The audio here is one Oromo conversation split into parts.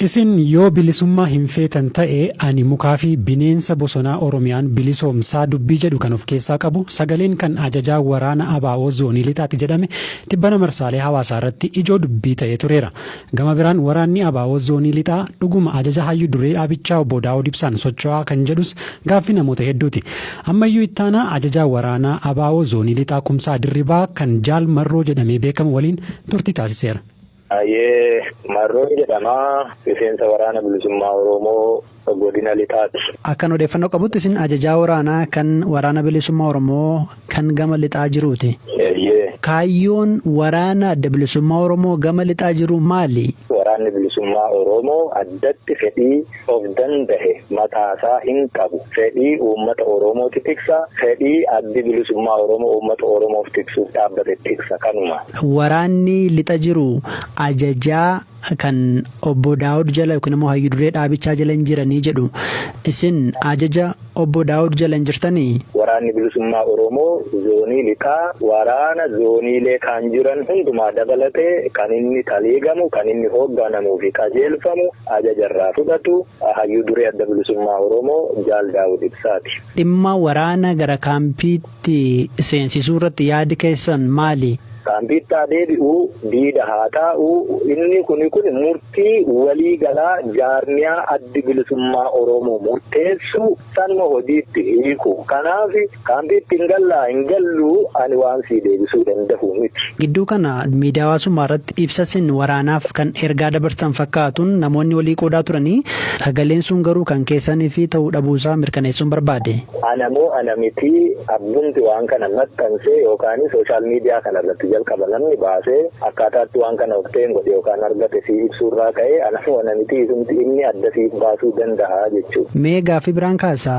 Isin yoo bilisummaa hin feetan ta'e ani mukaa fi bineensa bosonaa Oromiyaan bilisoomsaa dubbii jedhu kan of keessaa qabu sagaleen kan ajajaa waraana ABO zoonii lixaati jedhame tibbana marsaalee hawaasaa irratti ijoo dubbii ta'ee tureera. Gama biraan waraanni abo Zoonii Lixaa dhuguma ajaja Hayyu Duree ABchaa Obbo Daawud Ibsaan socho'aa kan jedhus gaaffii namoota hedduuti. Ammayyuu Ittaanaa Ajajaa Waraanaa abo Zoonii Lixaa Kumsaa Dirribaa kan Jaal Marroo jedhamee beekamu waliin turtii taasiseera. Hayyee Marroon jedhama. Miseensa Waraana Bilisummaa Oromoo. Godina Lixaati. Akkan odeeffannoo qabutti isin ajajaa waraanaa kan Waraana Bilisummaa Oromoo kan gama Lixaa jiruuti. Eeyyee. Kaayyoon waraana Adda Bilisummaa Oromoo gama Lixaa jiruu maali? Waraanni Bilisummaa Oromoo addatti fedhii of dandahe mataasaa hin qabu. Fedhii uummata Oromooti tiksa. Fedhii Addi Bilisummaa Oromoo uummata Oromoof tiksuuf dhaabbate tiksa. Kanuma. Waraanni Lixa jiru ajajaa. kan obbo Daawud jala yookiin immoo hayyu duree dhaabichaa jala hin jiranii jedhu. Isin ajaja obbo Daawud jala hin jirtanii? Waraanni Bilisummaa Oromoo zoonii lixaa waraana zooniilee kaan jiran hundumaa dabalatee kan inni taliigamu, kan inni hoogganamuu fi qajeelfamu, ajaja irraa fudhatu Hayyuu Duree Adda Bilisummaa Oromoo Jaal Daawud Ibsaati. Dhimma waraana gara kaampii. tti seensisuu irratti yaadi keessan maali? Kaampiitti haa deebi'u, diida haa taa'u, inni kuni kuni murtii walii galaa jaarmiyaa Addi Bilisummaa Oromoo murteessu sanuma hojiitti hiiku. Kanaaf kaampiitti hin gallaa hin galluu ani waan sii deebisuu dandahu miti. Gidduu kana miidiyaa hawaasummaa irratti ibsa sin waraanaaf kan ergaa dabarsitan fakkaatun namoonni walii qoodaa turanii sagaleen sun garuu kan keessaniifi ta'uu dhabuusaa mirkaneessuun barbaade. Ana moo ana miti abbumti waan kana maxxanse yookaan social media kana irratti jalqaba namni baase akkaataa itti waan kana obtain godhe yookaan argate sii ibsuu irraa ka'ee ana moo ana miti isumti inni adda siif baasuu dandaha jechuu. Mee gaaffii biraan kaasa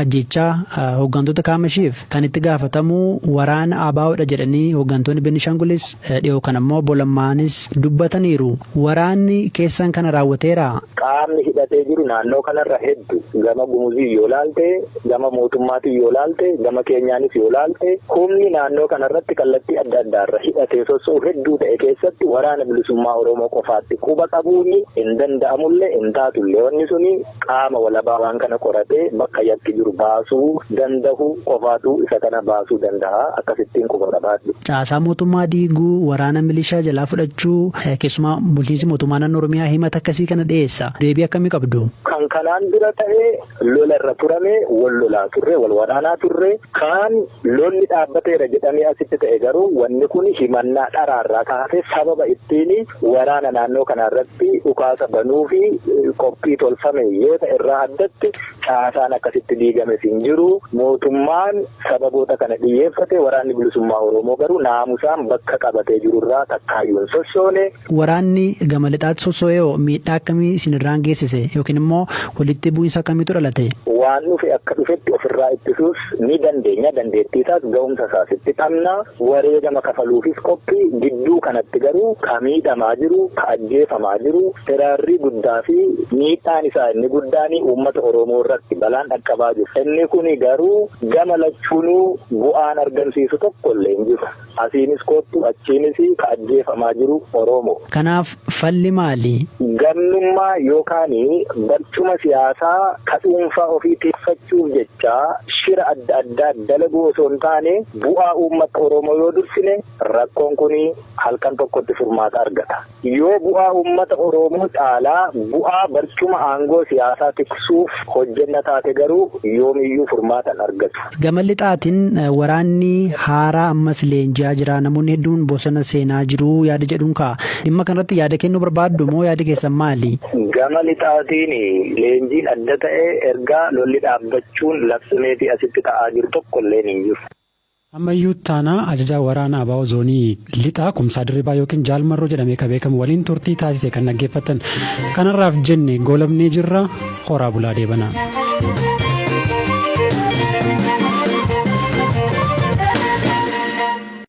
ajjeechaa hooggantoota kaamashiif kan itti gaafatamu waraana ABOdha jedhanii hooggantoonni Benishangulis dhiyoo kan ammoo obbo Lammaanis dubbataniiru. Waraanni keessan kana raawwateeraa? Qaamni hidhatee jiru naannoo kanarra heddu. Gama Gumuziin yoo laalte, gama mootummaatiin yoo laalte, gama keenyaanis yoo laalte humni naannoo kanarratti kallattii adda addaarra hidhatee sosso'u hedduu ta'e keessatti Waraana Bilisummaa Oromoo qofaatti quba qabuun hin danda'amullee hin taatullee. Wanni suni. Qaama walabaa waan kana qoratee bakka yakki jiru baasuu dandahu qofaatu isa kana baasuu dandaha akkasittiin quba qabaadhu. Caasaa mootummaa diiguu, waraana milishaa jalaa fudhachuu, keessumaa bulchiinsi mootummaa naannoo Oromiyaa himata akkasii kana dhiyeessa. Deebii akkamii qabdu? Kan kanaan dura ta'e lola irra turame, wal lolaa turre, wal waraanaa turre. Kaan Lolli dhaabbateera jedhamee asitti ta'e garuu wanni kun himannaa dharaa irraa kan hafe sababa ittiin waraana naannoo kanaa irratti dhukaasa banuufi qophii tolfame yoo ta'e irraa addatti caasaan akkasitti diigames hin jiru. Mootummaan sababoota kana dhiyyeeffate waraanni bilisummaa Oromoo garuu naamusaan bakka qabatee jiru irraa takkaayyuu hin sossoone. Waraanni gama lixaatti sosso'eoo miidhaa akkamii isin irraan geessise yookiin immoo walitti bu'insa akkamiitu dhalate? Waan dhufe akka dhufetti ofirraa ittisuus ni dandeenya, dandeettii isaas ga'umsa isaas itti qabna. Wareegama kafaluufis qophii. Gidduu kanatti garuu ka miidhamaa jiru, ka ajjeefamaa jiru, hiraarrii guddaa fi miidhaan isaa inni guddaan uummata Oromoo irratti balaan dhaqqabaa jiru. Inni kuni garuu gama lachuunuu bu'aan argamsiisu tokko illee hin jiru. Asiinis koottu achiinis ka ajjeefamaa jiru Oroomo. Kanaaf falli maali? Gannummaa yookaan barcuma siyaasaa ka dhuunfaa ofii tikfachuuf jecha shira adda addaa dalaguu osoo hin taane bu'aa uummatta Oroomoo yoo dursine rakkoon kun halkan tokkotti furmaata argata. Yoo bu'aa uummata Oroomoo caalaa bu'aa barcuma aangoo siyaasaa tiksuuf hojjenna taate garuu yoomiyyuu furmaata hin argatu. Gama lixaatin waraanni haaraa ammas leenji'aa jira, namoonni hedduun bosona seenaa jiru yaada jedhuun ka'a. Dhimma kanarratti yaada kennuu barbaaddu moo yaadi keessan maali? Gama lixaatiin leenjiin adda ta'e erga lolli dhaabbachuun labsameefii asitti ta'aa jiru tokkolleen hin jiru. Ammayyuu Ittaanaa Ajajaa Waraana abo Zoonii Lixaa Kumsaa Dirribaa ykn Jaal Marroo jedhamee ka beekamu waliin turtii taasise kan dhaggeeffattan. Kan har'aaf jenne goolabnee jirra. Horaa bulaa deebanaa.